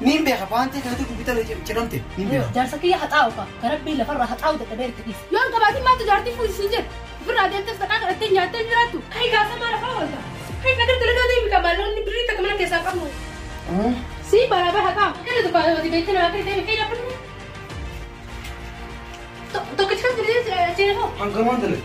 Niin beeka paantii keetu dubbita cinamte niin beeka. Jaarsa kiyya haxaa'u ka ka rabbiin lafarraa haxaa'u dadhabee itti dhiif. Yoo hin qabaatin maaltu jaartii fuudhi siin jedhe. Ofirraa deemtee saqaa kadhattee nyaattee hin jiraattu. Kai gaafa maal afaan wanta. Kai nagar dalagaa deemi ka maalonni birrii takka mana keessaa qabnu. Si baraabaa haqaa. Kana tokko ati beektee namaa kee deemi kai lafa. Tokkichi kan jireenya seena hoo. Hangamaan dalaga.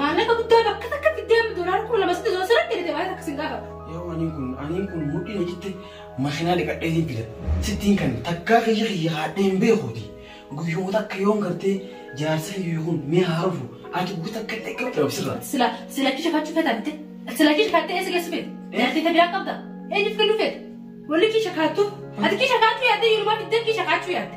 Maallaqa guddaa bakka takka fiddee amma doolaara kuma lama sitti doosara kennite waan takka sin gaafatu. Yoo aniin kun aniin kun mudhiin hojitti makiinaa dhiqadhee hin fida. Sittiin kan takkaa kiyya kiyya haadhee hin beekuuti. Guyyuma takka yoon gartee jaarsa kiyya kun mee haarufu ati guyya takka illee qabdu dhabsirra. Sila sila kisha fachu feta mite. Sila kisha katte esi gesu fete. Jarti ta bira qabda. Ejif kenu fete. Wali kisha katu. Ati kisha katu ya te yuruma bidde kisha katu ya te.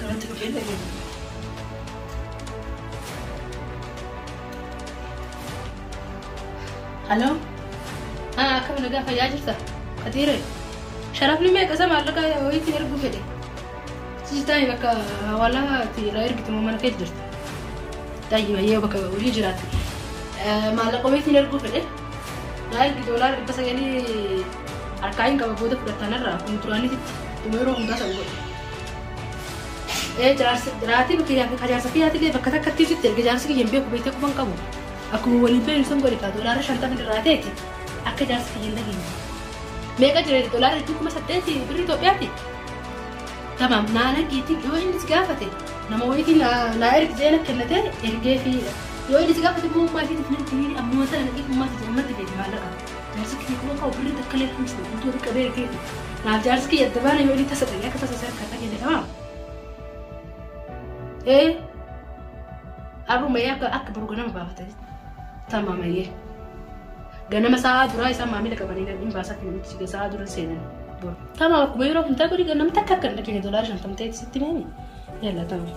Irratti dhufee dhageenye. Haloo? Haa akkam nagaa fayyaa jirta? Katiire? Sharafni meeqa isa maallaqa wayiitti erguu fedhe? Siistaan bakka hawaalaa itti irraa ergitu moo mana keessa jirti? Daa'ima yoo bakka hojii jiraatti. Maallaqa wayiitti erguu fedhe? Naa ergi doolaara dhibba sagalii harkaa hin qaba booda fudhatanarraa kun duraanitti dhuma yeroo hundaa san godhe. Ee jaarsi jiraatii bakka yaa bakka jaarsa kiyyaati illee bakka takka itti sitti erga jaarsi kiyya hin beeku beektee quba hin qabu. Akkuma waliin beeknu san godhi kaa doolaara shantama irraa ta'eeti akka jaarsi kiyya hin dhageenye. Meeqa jira doolaara jechuun kuma saddeeti birri Itoophiyaati. Tamam naa nagiitiin yoo inni si gaafate nama wayiitiin naa naa ergi jee na kennate ergee fi yoo inni si gaafate immoo ummaa isheetiif nan kennee ammoo sana nagii ummaa isheetiin ammatti beeku maallaqa. Jaarsi kiyya kuma qabu birri takka illee hin jiru. Guutuu walitti qabee ergeefi. Naaf jaarsi kiyya adda baana yoo inni tasa ta'e akka tasa isa harkaa kan jedhe dhabaama. Ee har'umayee akka akka boru ganama baafatan tamaamayee. Ganama sa'aa duraa isaan maamila qabanii hin baasaa fi namichi siga sa'aa dura seenan boru. Tamaa akkuma yeroo hundaa godhi ganama takka akka hin dhageenya doolaara shantamtee sitti meemi. Yalla tamaa.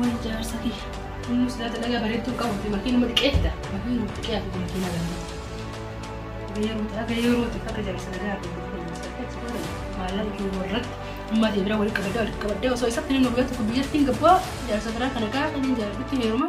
Way jaarsa kiyya. Inni silaa dalagaa bareedduu hin qabu. Makiin nama xiqqeessa. Makiin nama xiqqee ati makiin nama xiqqee. Haga yeroo haga yeroo ti akka jaarsa nagaa ati maallaqa kee warratti amma ati bira walitti qabadee walitti qabadee osoo isatti hin hubatu kun biyyatti hin gabbaa jaarsa biraa kana kaa kan hin jaarratti heeruma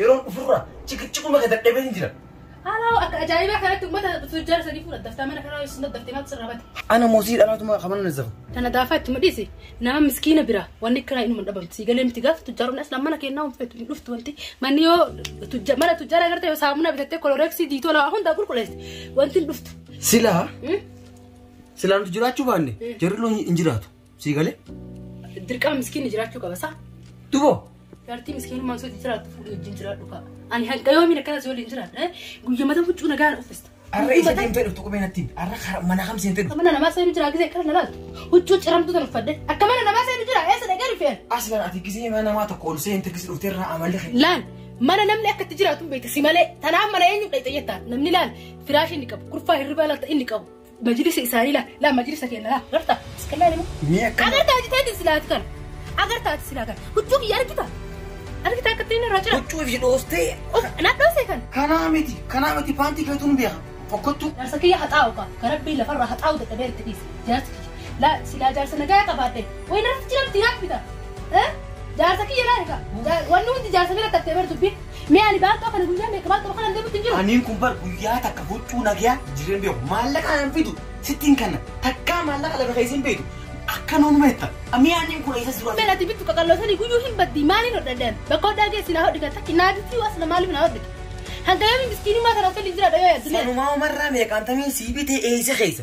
Yeroon dhufurra ciqiciquma kee dadhabee hin jira. Haalaa akka ajaa'ibaa kanatti uummata tujjaara sadii fuudha daftaa mana kanaa isin daddaftee maaltu sirraa bate. Ana moosii dhalaatuma kamana na zafa. Tana daafaa itti mudhiisi nama miskiina bira wanni kiraa inuma dhabamti sii galee miti gaafa tujjaaronni aslaan mana kennaa hin feetu hin dhuftu wanti manni yoo tujja mana tujjaara agartee yoo saamunaa bitattee koloreeksii diitoo lawaa hundaa qulqulleessi wanti hin dhuftu. Silaa Hmm? silaa nuti jiraachuu baanne jarri loon hin jiraatu. Sii galee? Dirqama miskiinni jiraachuu qaba isaa. Duboo. Jaartii miskiinummaan sooti jiraattu fuudhii wajjin jiraadhu ka'a. Ani hanga yoomiin akkana si waliin jiraadha. Guyyaa mata huccuu nagaan uffista. Arra isa deemtee dhuftu qubee natti himi. Arra karaa mana kam seentee dhuftu. Mana namaa seenu jira gisee kana nalaatu. Huccuu ciramtu tan uffadde. Akka mana namaa seenu jira eessa dhaqee dhufeen. Aslan ati gisee mana namaa tokko ol seente gisee dhuftee irraa amalli kee. Laal mana namni akka itti jiraatu hin beektu si malee. Tanaaf mana eenyu dhaqxee jettaa namni laal firaashii inni qabu kurfaa hirribaa laata inni qabu. Majlisi isaanii laa laa majlisa keenya laa garta iskallaa ilma. Mee akka Agarta ati teeti silaati kana. Agarta ati silaa kana. Huccuu kiyya argita. Argita akka ittiin irraa jira. huccuu fi dhoostee Of nadhoosee kana. kanaa miti kanaa miti paantii keetuun beeka fokkottuu. Jaarsa kiyya haxaa'u ka ka rabbii lafarraa haxaa'u dadhabee itti dhiif jaarsi kiyya. Laa silaa jaarsa nagaa qabaadhe. Wayi narratti jira miti naaf bita. Eh? Jaarsa kiyya laa egaa. Jaa- Wanni hundi jaarsa bira tattee bar dubbiin. Mee ani baattoo kana guyyaa meeqa baattoo kana deemutti hin jiru. Aniin kun bar guyyaa takka huccuu nagayaa jireen beeku maallaqa nan fidu sittiin kanna takkaa maallaqa lafa keessin beeku akka nuun meetta amii aniin kun eessa jiru Mee ati bittu qaqalloo sanii guyyuu hin baddi maaliin hodhadhan bakka hodhaa geessi naa hodhi kan takki naa bittii waas na maaliif naa hodhi. Hanga yoomi miskiinummaa kana tolli jira dhayoo yaaddu. Sanumaa umarraa meeqaantamiin sii bitee eessa keessa.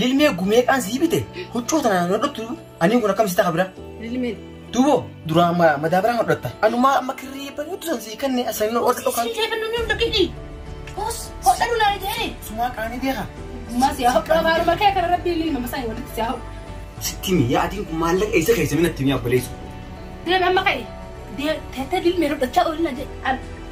Lilmee gumeeqaan sii bite huccuu tanaan hodhattu aniin kun akkamitti ta'a bira. Lilmeen. Duubo duraa ma madaabaraa hodhatta. Anumaa amma kirrii bareedu san sii kenne asan ol dhokan. Sumaa qaanii beeka. Sitti mi yaadiin kun maallaqa eessa keessa minatti mi abboleessu. Deebi amma ka'e. Teettee dilmee hodhachaa oolinna jedhe.